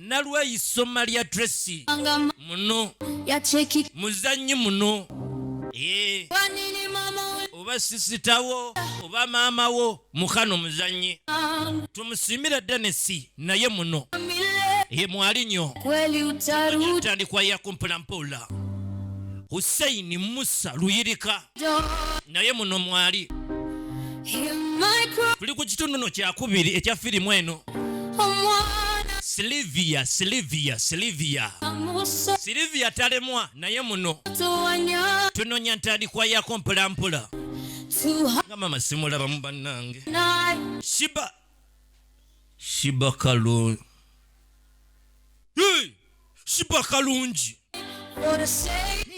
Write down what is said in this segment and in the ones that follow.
nalwayi soma lya tracy muno muzanyi muno eh. oba sisitawo oba maamawo mukano muzanyi tumusimira denesi naye muno ye eh, mwali nyo tandikwa yakumpulampuula huseini musa luyirika naye muno mwali tuli ku kitunduno kyakubiri ekya firimu eno silivia silivia silivia silivia talemwa naye muno tunonya ntandikwa yako mpolampola nga mama simulabamu bannange shiba shiba kalungi shiba kalungi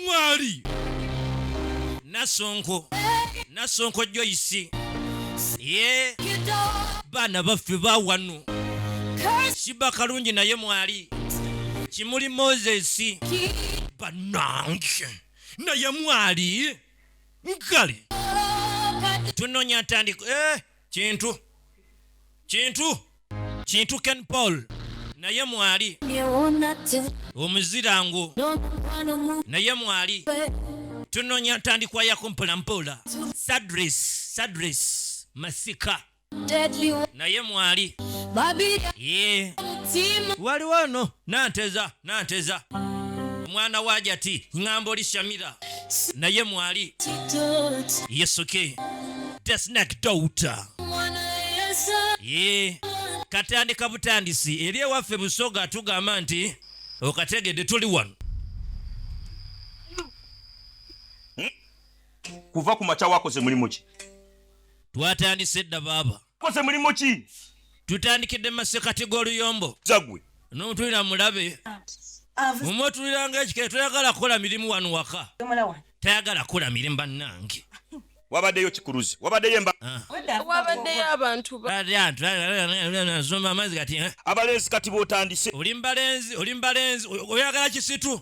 mwali nasonko nasonko joyisi ye baana baffe bawano shiba kalungi naye mwali kimuli moses banange naye mwali nkale tunonya ntandiko eh. kintu kintu kintu ken paul naye mwali omuzira ngu naye mwali tunonya ntandikwa yako mpolampola sadris sadris masika naye mwali waliwo no nanteza nanteza omwana wa jati ŋŋamba oli shamira naye mwali yesuke desnak douta ye katandika butandisi eri ewaffe busoga tugamba nti okategedde tuli wano kuva ku makya wakoze mulimu ki twatandise dda baaba koze mulimu ki tutandikidde mu masekati g'oluyombo zagwe notulira mulabe muma otuliranga ekikere toyagala kukola mirimu wano waka tayagala kukola mirimu bannange wabaddeyo kikuluzi wabaddeyo embawabaddeyo ah. abantu amazzi kati eh? abalenzi kati botandise oli mbalenzi oli mbalenzi oyagala kisitu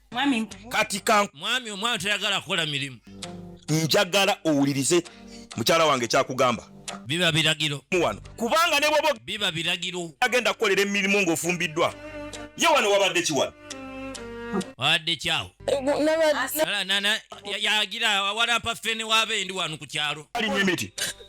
kati ka mwami omwana tayagala kukola mirimu njagala owulirize mukyala wange kyakugamba biba biragiro wano kubanga ne bwoba biba biragiro agenda kukolera emirimu ng'ofumbiddwa ye wano wabadde kiwano wadde kyawo yagira awalampa ffe ne waaba endi wano ku kyalo alimu emiti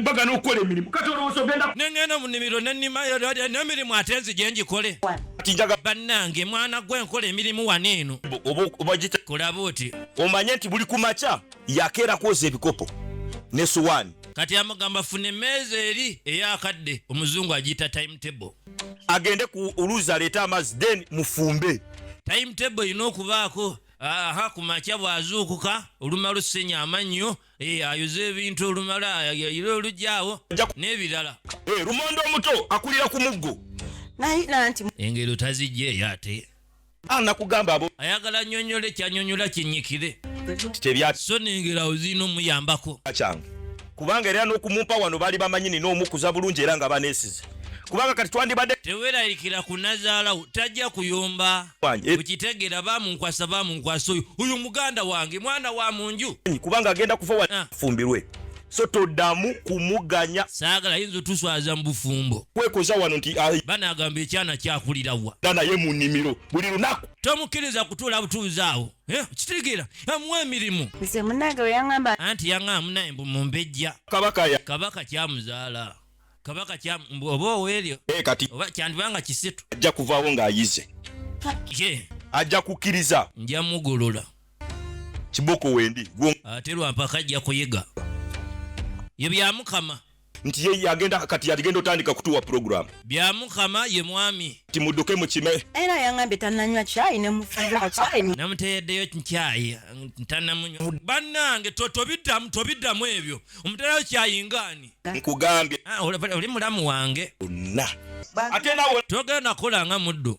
mbaga n'okukola emirimu kati olowooza ogenda nengenda mu nimiro nenimayo n'emirimu ate nzi gye ngikole njaga bannange mwana gwe nkola emirimu wano eno obagita kulaba oti omanye nti buli ku makya yakeera kwoza ebikopo ne suwaani kati amugamba funa emmeeza eri eyakadde omuzungu agiyita timetable agende ku oluuzi aleete amazzi then mufumbe timetable erina okubaako aha ku makya bw'azuukuka olumalu ssenya amannyo Eh, ayuza ebintu olumala yayira olugyawo n'ebirala eh, lumonde omuto akulira ku muggo engero tazijja eyo ate anakugamba ah, abo ayagala nyonyola ekyanyonyola kinyikire so nengera ozina omuyambako kyange kubanga era n'okumumpa wano baali bamanyi nina omukuza bulungi era nga banesize kubanga kati twandibadde tewerayikira kunazaalawo tajja kuyomba wange ukitegera bamunkwasa bamunkwasa oyo uyu muganda wange mwana wa munju kubanga agenda kufa wa ah. fumbirwe so todamu kumuganya sagala yinzo tuswaza mbufumbo kwekoza wano nti ah, bana agamba ekyana kyakulira wa dana ye munimiro buli lunaku tomukiriza kutula butuzaawo eh, kitegera amuwa emirimu nze munage weyangamba anti yangamba naye mbu mumbejja kabaka ya kabaka kyamuzaala kabaka kya oba owelyo eh, kati oba kyandiba nga kisitu ajja kuvaawo ng'ayize ye ajja kukkiriza nja mugolola kiboko wendi ate lwampaka ajja kuyiga ye byamukama nti ye yagenda kati yaligenda otandika kutuwa pulogulaamu bya mukama ye mwami ti mudduke mukime era yangambye tananywa kyayi nemufunamuteeddeyo kyayi tanamunywa bannange tobiddamu tobiddamu ebyo omuterayo kyayi ngaani nkugambye ah, oli mulamu wange onna ate nawe togenda kola nga muddu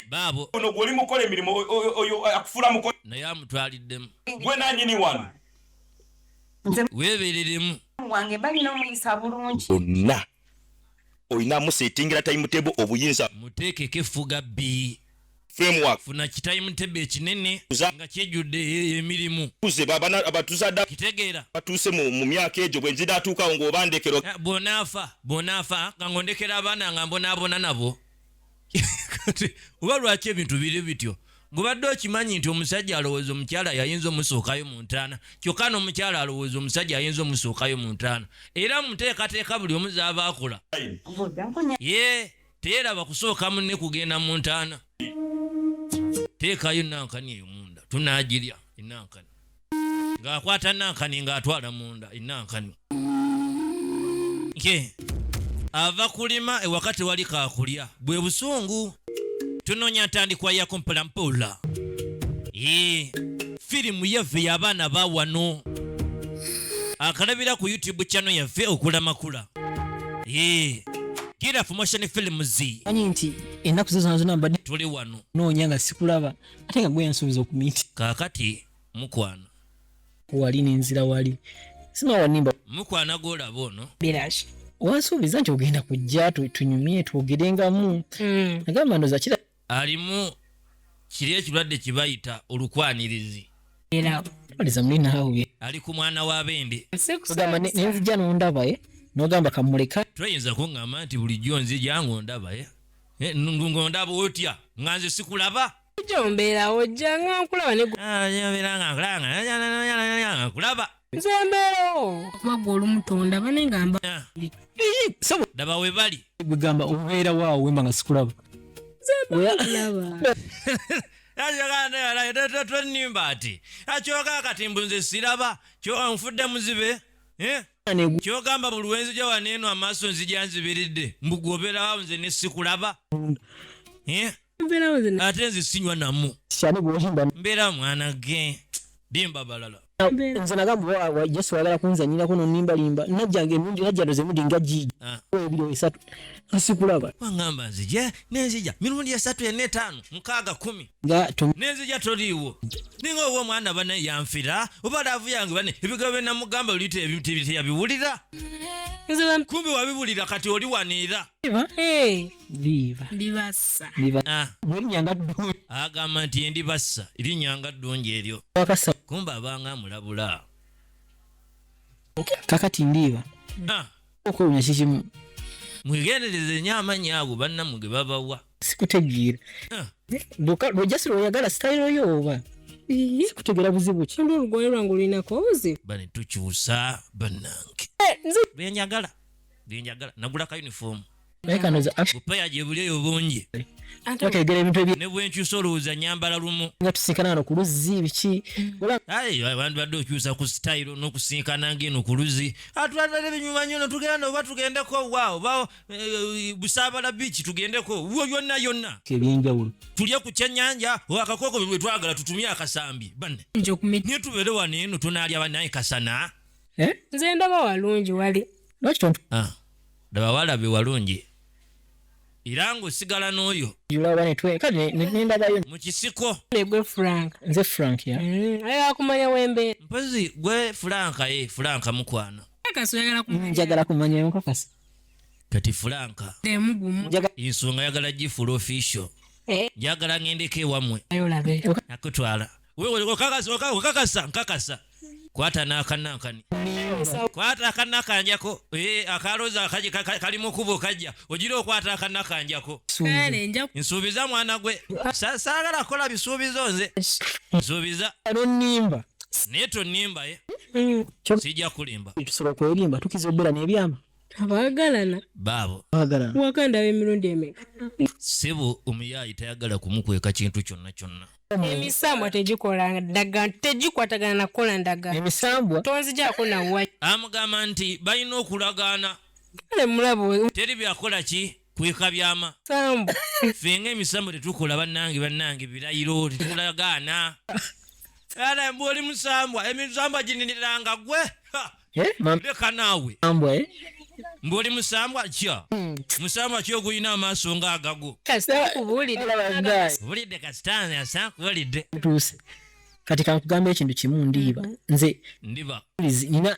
baabo ono gwoli mukola emirimu oyo akufuula muko naye amutwaliddemu gwe nanyini wano weebereremu wange balina omuyisa bulungi onna olina musetingira timetable obuyinza muteekeko effuga bbi framework funa kitayimutebi ekinene nga kyejjudde e, emirimu abatuzadde kitegeera batuuse mu myaka egyo bwe nzinaatuukawo ng'obandekero eh, bwonaafa bwonaafa nga ng'ondekera abaana nga mbonaabona nabo oba lwaki ebintu biri bityo ngobadde okimanyi nti omusajja alowooza omukyala yayinza omusuukayo mu ntaana kyokka n'omukyala alowooza omusajja ayinza omusuukayo mu ntaana era muteekateeka buli omu zaaba akola ye teeraba kusooka munne kugenda mu ntaana teekayo enankani eyo munda tunaagirya enankani ng'akwata nankani ng'atwala munda enankani ye ava kulima ewaka tewali kakulya bwe busungu tunoonya ntandikwa yako mpolampola ye firimu yaffe y'abaana ba wano akalabira ku youtube channel yaffe okulamakula ye gira promotion films anyi nti ennaku zo zona zona mbadde tuli wano noonya nga sikulaba ate nga gwe yansuubiza okumiti kaakati mukwano wali nenzira wali sima wanimba mukwana gwolaba ono birashi wansuubiza nti ogenda kujja tunyumye twogerengamu hmm. agamba ndoza kira alimu kiri ekirwadde kibayita olukwanirizi ali ku mwana wa bende nenzija nondaba eh? nogamba kamuleka toyinza kuŋŋamba nti bulijjo nzija ng'ondaba eh? Eh, ngondaba otya nga nze sikulaba jombeerawo jja nga nkulaba nkulaba nze mbeerawo okuba gwe olumutonda bane ngamba ah. daba we bali gwegamba obeera waawo wemba nga sikulaba twenimba ati akyoka kati mbu nze siraba kyoka nfudde muzibe eh? kyogamba buli wenzija wano eno amaaso nzija nzibiridde mbu gwoberawo nze nesikulaba eh? ate nze sinywa namu mbeera mwana ge bimba balala nze nagamba yesu wagala kunzanyirako nonimbalimba najjanga emirundi najjano zemudi nga jiji ah. ebiro esatu nsikulaba wangamba nzija nenzija mirundi esatu ena etaano mukaaga kumi nga nenzija toliiwo ninga owo omwana bane yanfira oba laavu yange bane ebigambo byenamugamba oluyita ebiteyabiwulira kumbi wabiwulira kati oli waniira ah. agamba nti endi bassa erinyanga ddungi eryo kumba abanga amulabula kakati ndiiba ah. okwewunya kikimu mwegendereze nyo amanyi ago bannamwe ge babawa sikutegeera ah. boka lwojasi lwoyagala sitayiro yo oba sikutegera buzibu ki ndo olugoye lwange olulinako obuzibu bane tukyusa bannange eh, byenjagala byenjagala nagula ka uniform naye kano za bupaya gye buli eyo bungi bategera ebintu ebye ne bwenkyusa olowooza nyambala lumu nga tusinkana wano ku luzzi biki abantu badde okyusa ku sitayiro n'okusinkana ng'eno ku luzzi atwalibadde binyuma nnyo no tugenda oba tugendeko wa oba eh, busaabala biiki tugendeko wo yonna yonna ebyenjawulo tulye ku kyennyanja o akakooko bwe twagala tutumye akasambi banne naye tubeere wano eno tunaalya banaye kasana eh? nze ndaba walungi wali lwaki tontu ah. laba walabi walungi era ng'osigala n'oyo mu kisiko nze frank mm, aye akumanya wembeera mpozi gwe fulanka ye eh, fulanka mukwano mm, njagala kumanya enkakasa kati fulanka ensonga yagala gifula official eh. njagala ngendeko ewammwe nakutwala okakasa nkakasa kwata nakanankani kwata akanakanjako eh, akaloza kali mukubo kajja ogira okwata akanakanjako nsuubiza mwana gwe saagala kukola bisuubizo nze nsuubiza nonimba naye tonimba ye eh? mm. sijja kulimba tusobola kwerimba tukiza obeera nebyama abaagalana baabo wakanda ab'emirundi emeka sebo omuyaayi tayagala kumukweka kintu kyonna kyonna emisambwa tegikola ndaga tegikwatagana nakukola ndaga emisambwa tonzijako nawa amugamba nti balina okulagaana kale mulabo teri byakola ki kweka byama sambu ffe nga emisambo tetukola bannange bannange birayiro tetulagaana era mbu oli musambwa emisambwa gininiranga gwe eh, leka naawe eh? mbu oli musambwa kya hmm. musambwa ki ogulina amaaso nga agago bulidde kasitaani asakubalidde kati kankugamba ekintu kimu ndiiba mm-hmm. nze ndiba nina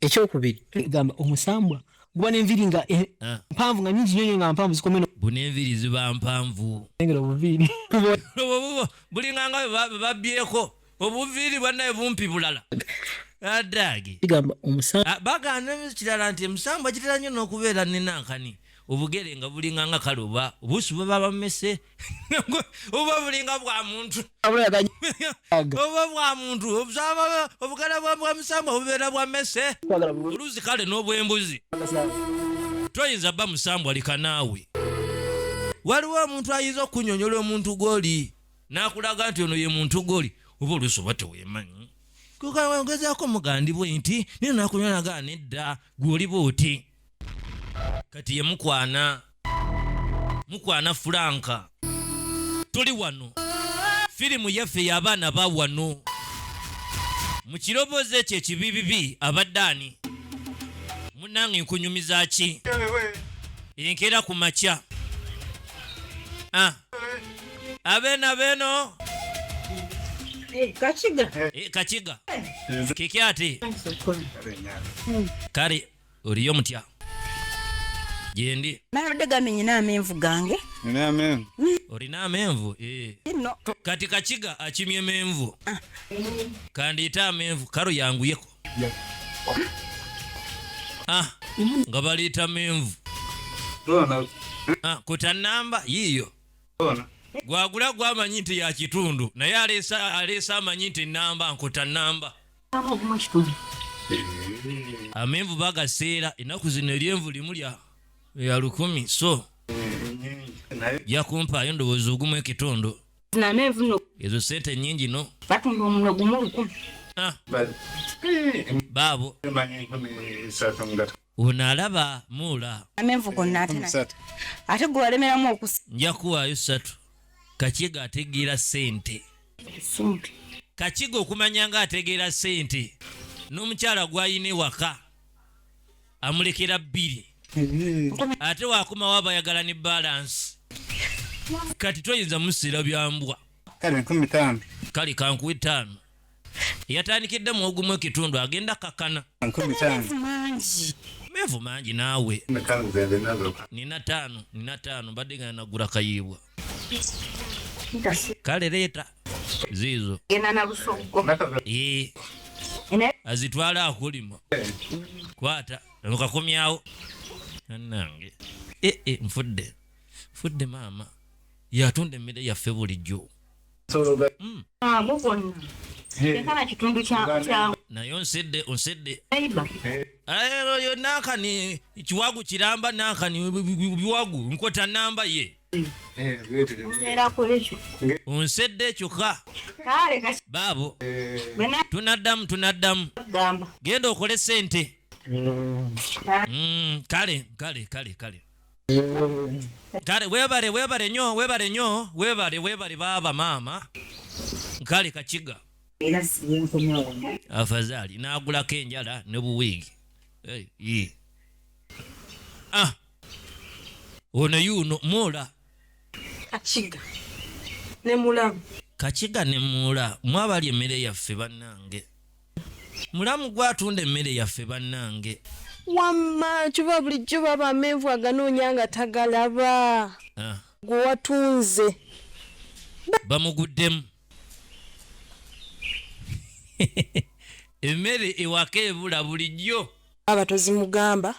ekyokubiri gamba omusambwa guba nenviri nga eh, ah. mpanvu nga nyingi nyonyo nga mpanvu zikomeno buna enviri ziba mpanvu engera obuviiri bulinga nga babyeko obuviiri bwanaye bumpi bulala adage ah, bagana ekirala nti emusambwa kitera nyo nokubeera nenankani obugere nga bulinga nga kale oba obusi bwebabamese oba bulinga bwa muntu oba bwa muntu obugala bwa musambwa bubeera bwa mese oluzi kale n'obwembuzi toyinza ba musambwa lika naawe waliwo omuntu ayinza okunyonyola omuntu gwoli n'akulaga nti ono ye muntu gwoli oba olusi oba tewemanyi kukaongezaako mugandibwe nti naye nakunyolaga nedda gwoliba oti kati ye mukwana mukwana fulanka tuli wano firimu yaffe y'abaana ba wano mu kiroboozi ekyo ekibibibi abadde ani munange nkunyumiza ki enkera ku makya ah. abena beno Eh, kakiga eh, kakiga kiki ati kale Oliyo mutya? Gyendi. Nabadde gambi nyina amenvu gange. Nina amenvu. Mm. Olina amenvu? Eh. No. Kati kakiga akimye menvu. Ah. Kandiita amenvu karo yanguyeko. Yeah. Ah, nga baliita menvu. Bona. Ah, kuta namba yiyo. Bona. Gwagula gwamanyi nti ya kitundu naye aleesa aleesa amanyi nti namba nkuta namba. amenvu bagaseera ennaku zino eryenvu limu lya ya lukumi so yakumpaayo endowooza ogumu ekitundu ezo sente nyingi no batunda omuno gumu lukumi ah. eh, baabo Ono alaba muula. Amenvu gonna ate na. Ate gwe walemeramu okusa. Nja kuwaayo satu. Kakiga ategeera sente. Sente. Kakiga okumanya nga ategeera sente. N'omukyala gwayina ewaka. Amulekera bbiri. Ate wakomawo abayagala ne balansi. Kati toyinza musiira byambwa. Kale kankuwe ttaano. yatandikidde mu ogumu ekitundu agenda kakana mevu mangi naawe nina taano nina taano mbadde nga nagula kayiibwa kale leeta ziizo azitwale akulima kwata okakomyawo nanange eh, eh, nfudde nfudde maama yatunda emmere yaffe bulijjo naye onsedde onsedde ero yo nankani kiwagu kiramba nankani biwagu nkota namba ye onsedde kyokka baabo tunaddamu tunaddamu genda okole sente mm, kale kale kale kale Kale webale webale nyo webale nyo webale webale baba maama kale kakiga afazali nagulako enjala ne buwiigi hey, ah. ono yuno mula kakiga ne mulamu kakiga ne mula mwabali emmere yaffe bannange Mulamu gwe atunda emmere yaffe bannange. Wamma kyova bulijjo baba amenvu aganoonya nga tagalaba. Ah. Gwe watunze. Bamuguddemu. Emmere ewaka ebula bulijjo. Aba tozimugamba.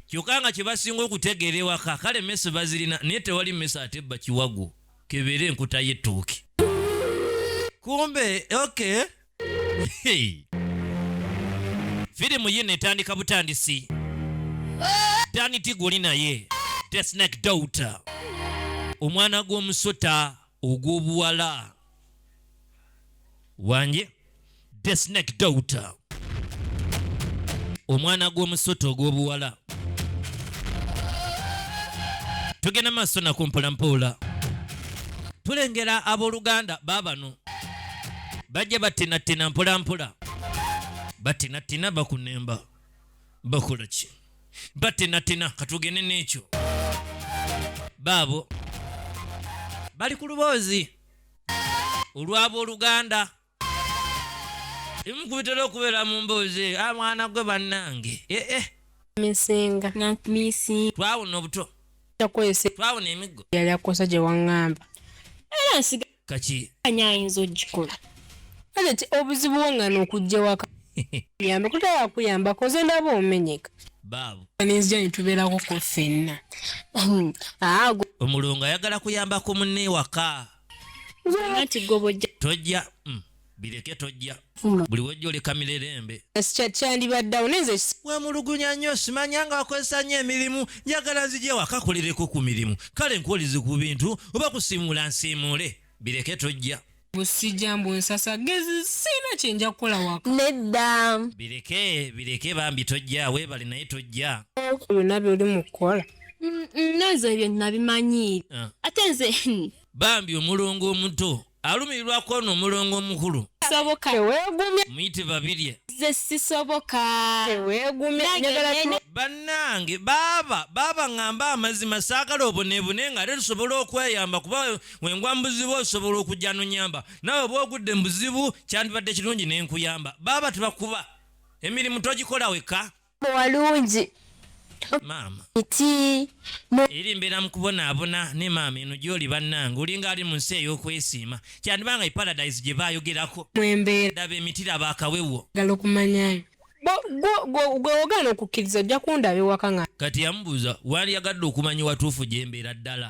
Kyokka nga kye basinga okutegeera ewaka kale mmese bazirina naye tewali mmese ate bba kiwagu kebeera enkuta y'ettooke. Kumbe okay. firimu yino etandika butandisi dani tiguli naye the snake daughter omwana gw'omusota ogw'obuwala wanje the snake daughter omwana gw'omusota ogw'obuwala tugenda maaso naku mpolampola tulengera abooluganda baabano bajja batinatina mpolampola batinatina bakunemba bakola ki batinatina katugende n'ekyo baabo bali ku luboozi olw'abooluganda emu ku bitera okubeera mu mboozi eyo a mwana gwe bannange eh, eh. misinga misinga twawona obuto takozesa twawona emiggo yali akosa gye waŋŋamba era nsiga kaki anya ayinza ogikola kale ti obuzibu wangana okujja waka yambe kutaya kuyamba koze ndaba omenyeka baabo aninzija nitubeerako ko fenna hmm. omulungu ayagala kuyambako munne ewaka tojja mm, bireke tojja hmm. buli wejja oleka mirerembe kyandibaddawo nenze wemulugunya nnyo simanya nga wakozesa nnyo emirimu njagala nzije wakakolereko ku mirimu kale nkuwulize ku bintu oba kusiimuula nsiimuule bireke tojja busijja mbu nsasa gezi sina kyenja kukola waka nedda bireke bireke bambi tojja webale naye tojja byonna byoli mukukola Mm, mm, nezo ebyo nabimanyi ah. ate nze hmm. bambi omulongo omuto alumirirwa kwono omulongo omukulu soboka tewegumye muyite babirye nze sisoboka tewegumye bannange baaba baaba ŋŋamba amazima saagala oboneebone nga ate tusobola okweyamba kuba wengwa mu buzibu osobola okujja nonyamba nawe oba ogudde mu buzibu kyandibadde kirungi ne nkuyamba baaba tebakuba emirimu togikola wekka walungi maama iti eri mbeera mu kubonaabona ne maama eno gy'oli bannange olinga ali mu nsi ey'okwesiima kyandiba nga eparadise gye baayogerako mwembeeradaba emitira baakawewo gala okumanyayo gwe ogaana okukkiriza ojja kundaba ewaka nga kati yamubuuza wali yagadde okumanya watuufu gye mbeera ddala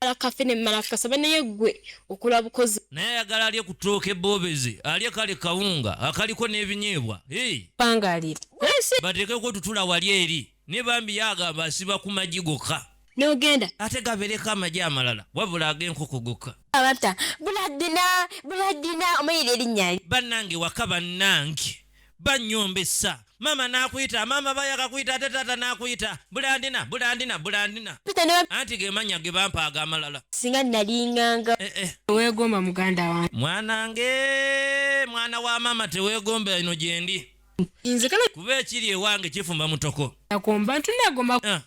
alakafe ne malakasa banaye gwe okola bukozi naye ayagala alye kutooka ebobezi alye kale kawunga akaliko n'ebinyeebwa bangalira bateekeko tutula wali eri ne bambi yagamba asiba ku magi gokka nogenda ate gabereko amagi amalala wabula ag'enkoko gokka abata buladina buladina omuyira erinnya bannange waka bannange bannyombesa maama n'akuyita maama bayaka kuyita ate taata n'akuyita bulandina bulandina bulandina anti ge mannya ge bampa ag'amalala singa nalinganga eh, eh. weegomba muganda wange mwanange mwana wa maama teweegomba ino gyendi kuba ekiri ewange kifumba mutoko ah.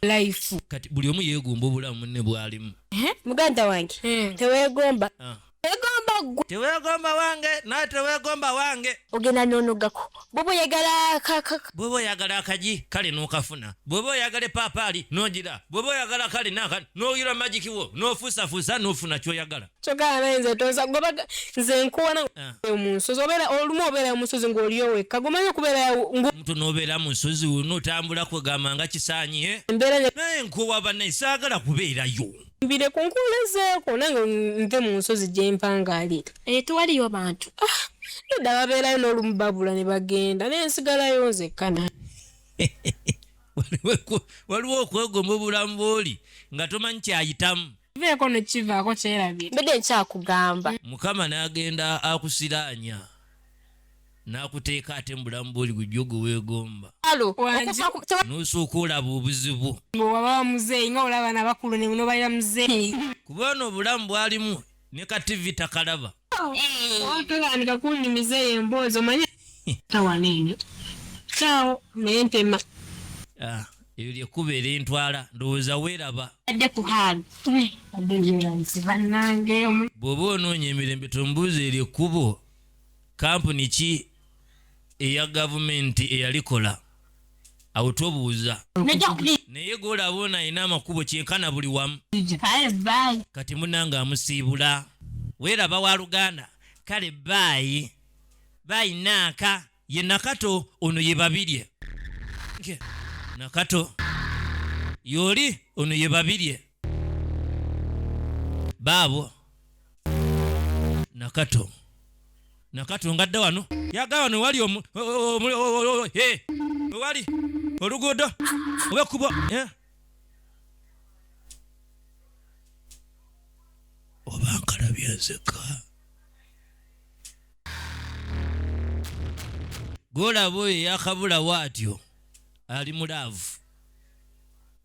kati buli omu yeegomba obulamu munne bwalimu eh, muganda wange teweegomba ah. Egomba gwe. Tewegomba wange naye tewegomba wange. Ogenda nonogako. Bobo yagala kaka. Bobo yagala akaji kale nokafuna. Bobo yagala papali nojira. Bobo yagala kale naka noyira magic wo nofusa fusa nofuna kyoyagala. Kyogala naye nze toza goba nze nkuwana ah. omunsozi obera olumu obera omunsozi ngoliyo wekka gomanyi okubeera ngo omuntu nobeera mu nsozi notambula kwegamba nga kisaanyi eh? naye nkuwa banaye saagala kubeerayo mbire ku nkuula ezeeko nange nve mu nsozi gye mpangaalira eyo eh, tewaliyo bantu ah, edda babeerayo n'olumu babula ne bagenda naye nsigalayo nzekka na waliwo okwegomba obulamu bwoli nga tomanyi kyayitamu veeko nekivaako kyerabira mbadde nkyakugamba mukama n'agenda akusiraanya n'akuteeka ate mu bulamu bwoli gujja oguweegomba n'osooka olaba obuzibu wababa muzeeyi nga olaba na bakulu nenobalira muzeeyi kuba ono obulamu bwalimu ne ka tivi takalaba otandika kunnimiza eyo emboozi omanye tawana enyo kyawo naye ntema ah, eyo lyekkuba era entwala ndowooza weeraba adde ku haali bw'oba onoonya emirembe tombuuza eryekkubo kampuni ki eya gavumenti eyalikola awo tobuuza naye golaba ono alina amakubo kyenkana buli wamu kati munange amusiibula weeraba wa luganda kale baayi baayinaaka ye nakato ono ye babirye nakato yoli ono ye babirye baabo nakato nakato ngadda wano yaga wano wali wali oluguudo oba ekkubo eh? oba nkalabya nzeka golaba oyo yakabulawo atyo ali mu laavu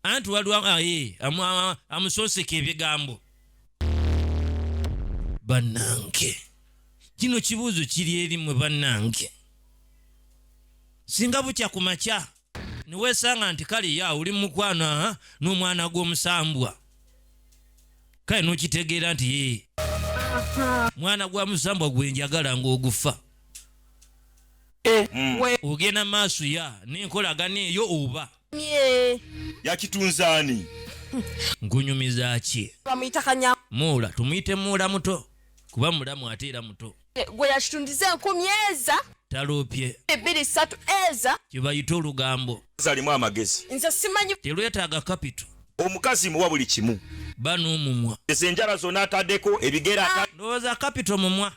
anti waliwo aye amusoseka ebigambo bannange kino kibuuzo kiri eri mwe bannange singa bukya ku makya niwesanga nti kale ya oli mukwano aha n'omwana gw'omusambwa kale nokitegeera nti yee mwana gwa musambwa gwe njagala ng'ogufa eh, mm. ogenda maaso ya n'enkolagana eyo oba yakitunzaani nkunyumiza ki muula tumuyite muula muto kuba mulamu ate era muto gwe yakitundiza enkumi eza taloopye ebbiri ssatu eza kyebayita olugambo zalimu amagezi nze simanyi telwetaaga kapito omukazi muwa buli kimu bana omumwa ezo enjala zona ataddeko ebigera ah. ndowooza kapito mumwa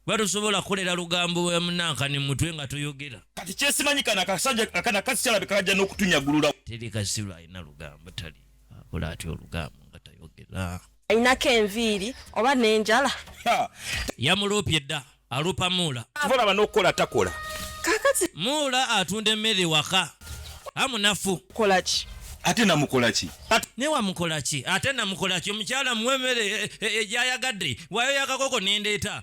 batusobola kukolera lugambo wemunanka ne mutwe nga toyogera kati kyesimanyi kana kasajja akana kasi kyalabika kajja n'okutunyagulula teri kasiru alina lugambo tali akola atya olugambo nga tayogera Ayinako enviiri oba n'enjala. Yamuloopye dda aloopa Muula. Ky'ova olaba n'okukola takola. Kaakati. Muula atunda emmere ewaka. A munafu. Kola ki? Ate namukola ki? Ne wamukola ki? Ate namukola ki? Omukyala muwe emmere egy'ayagadde. Waayo y'akakoko ne ndeeta.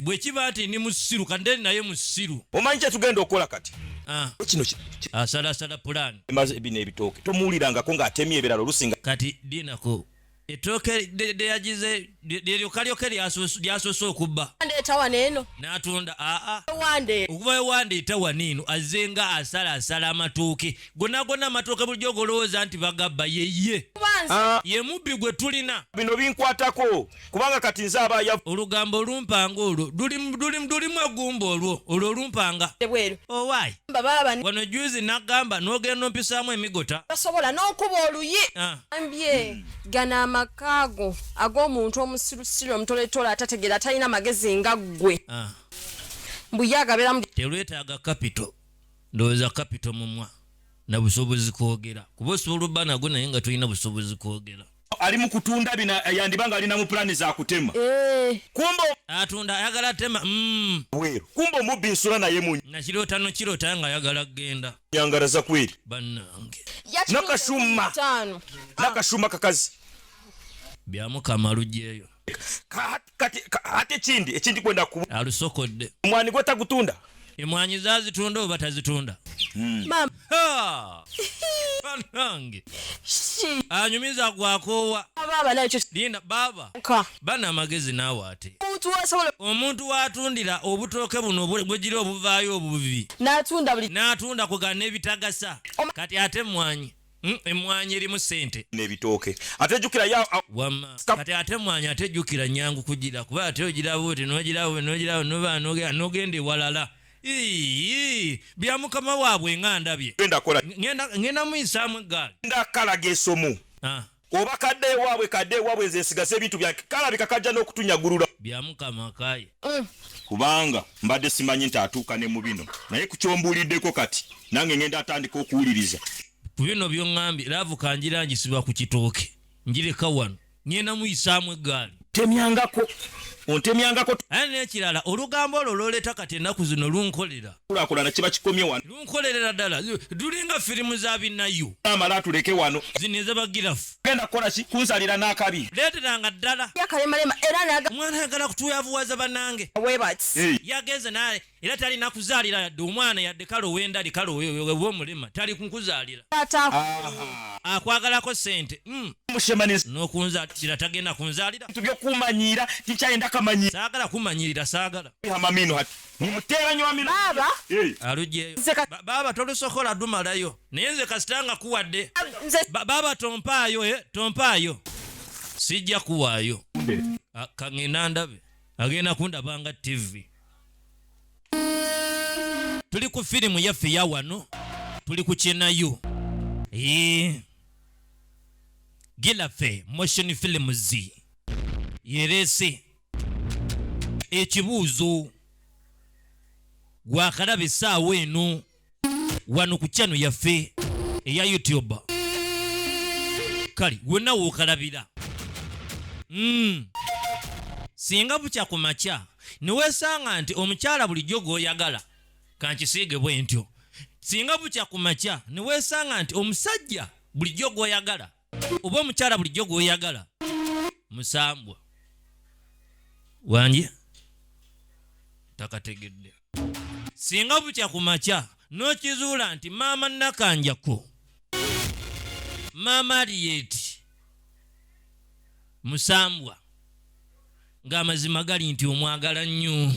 bwekiba nti ndi musiru kande naye musiru omanyi kyetugenda okukola kati ah. kino asalasala pulani emaze bino ebitooke tomuwulirangako ng'atemye ebirala olusinga kati dinako ettooke lyeyagize lyeryokalyoke lyasoose okubba etawana eno n'atunda aa okuva ewanda etawana eno azze nga asalaasala amatooke gonna gonna amatooke bulijjo ogolowooza nti bagabba yeye ah. ye mubbi gwe tulina bino binkwatako kubanga kati nze aba ya olugambo olumpanga olwo lulimu egumba olwo olwo olumpanga ebweru owaayi oh, bababani wano juzi nagamba nogenda ompisaamu emigota basobola n'okuba oluyi ah. ambye hmm. gana amakaago ag'omuntu omusirusiru omutoletola atategeera atalina magezi nga ggwe ah. mbuyagaberamu telwetaaga kapito ndowooza kapito mumwa na busobozi kwogera kuba osobola obba nago naye nga tulina busobozi kwogera ali mu kutunda bina eh, yandiba nga alina mu pulani za kutema eh. kumba atunda ayagala atema mm. bweru kumba omubbi nsula naye mu nakirota no kirota nga ayagala kugenda yangaraza kweri bannange nakashuma nakashuma kakazi byamukama lugyeyo kati ate ekindi ekindi kwenda ku alusokodde omwani gwe tagutunda emwanyi zazitunda oba tazitunda hmm. banange anyumiza gwakoowa linda baaba bana amagezi naawe ate omuntu watundira obutooke buno bwegiri obuvaayo obubi natunda kugana ebitagasa kati ate emwanyi Hmm, emwanyi erimu sente nebitooke ate jukira ya wama kati ate emwanyi ate jukira nyangu kugira kuba ate ogiraba oti nogiraba nogiraba noba nogera nogenda ewalala bya mukama waabwe nga ndabye ngenda muyisaamu eggaali ndakalaga esomu ah. oba kadde ewaabwe kadde ewaabwe nze nsigaza ebintu byange kalabika kajja n'okutunyagulula bya mukama kaye eh. kubanga mbadde simanyi nti atuuka ne mu bino naye ku kyombuuliddeko kati nange ngenda atandika okuwuliriza ku bino byoŋambye laavu kangira ngisiba ku kitooke ngireka wano ngenda muyisaamu eggaali temyangako ontemyangako aye n'ekirala olugambo olwo lwoleeta kati ennaku zino lunkolera kulakulana kiba kikomye wano lunkolerera ddala dulinga firimu za binayu amala atuleke wano zino ezabagirafu genda kukola ki kunsalira n'akabi leeteranga ddala yakaremarema era naga omwana ayagala kutuyavuwaza banange webati yagenze naye era talina kuzaalira yadde omwana yadde kale owendali kale oba omulema tali kukuzaalira akwagalako sente hmm. nokunzalira tagenda kunzalira saagala kumanyirira saagala mumuteeranyi wa baaba eh. alugyeyo baaba tolusokola dumalayo naye nze kasita nga kuwadde baaba tompaayo eh, tompaayo sijja kuwaayo ah, kaŋŋenda ndabe agenda kundaba nga ttivi tuli ku firimu yaffe ya wano tuli ku kyenayo gilafe motion films yereese ekibuuzo gwakalaba essaawa eno wano ku chano yaffe eya youtube kale wonna wokalabira mm. singa bukya ku makya newesanga nti omukyala bulijjo gwoyagala kankisiige bwentyo singa bukya ku makya newesanga nti omusajja bulijjo gwoyagala oba omukyala bulijjo gwoyagala musambwa wangi takategedde singa bukya ku makya n'okizuula nti maama nakanjako maama aliyeti musambwa ng'amazima gali nti omwagala nnyo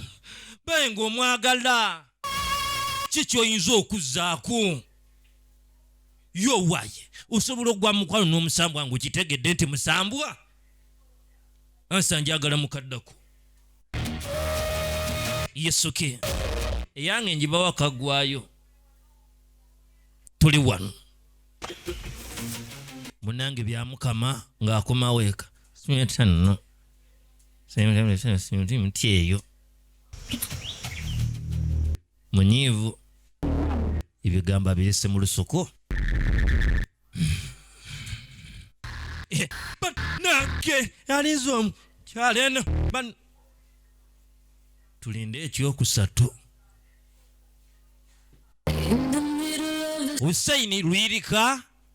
baye ng'omwagala ki kyoyinza okuzzaako yowaye osobola okugwa mukwano n'omusambwa nga okitegedde nti musambwa ansa njagala mukaddako yesuke eyange njibawo akagwayo tuli wano munange byamukama ng'akomawo eka simetanno simutyeyo munyiivu ebigambo abirese mu lusuku banange alinze omu kyalo eno tulinde ekyokusatu husaini lwirika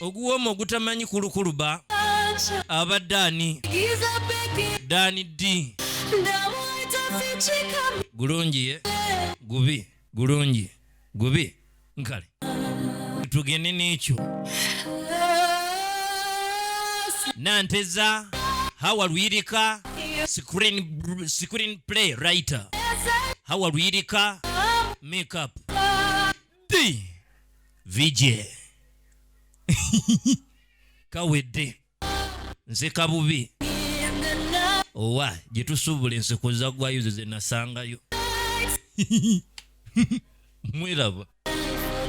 oguwooma ogutamanyi kulukuluba aba daani daani ddi gulungi ye gubi gulungi gubi nkale tugende n'ekyo nanteza hawa luyirika screen, screen play writer hawa luyirika makeup Di. VJ. Kawedde. Nze kabubi. Owa, gyetusuubula enseko za gwayo ze ze nasangayo. Mweraba.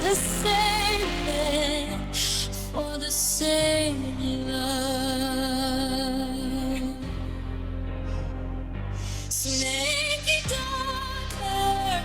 The same man for the same love. Snake daughter.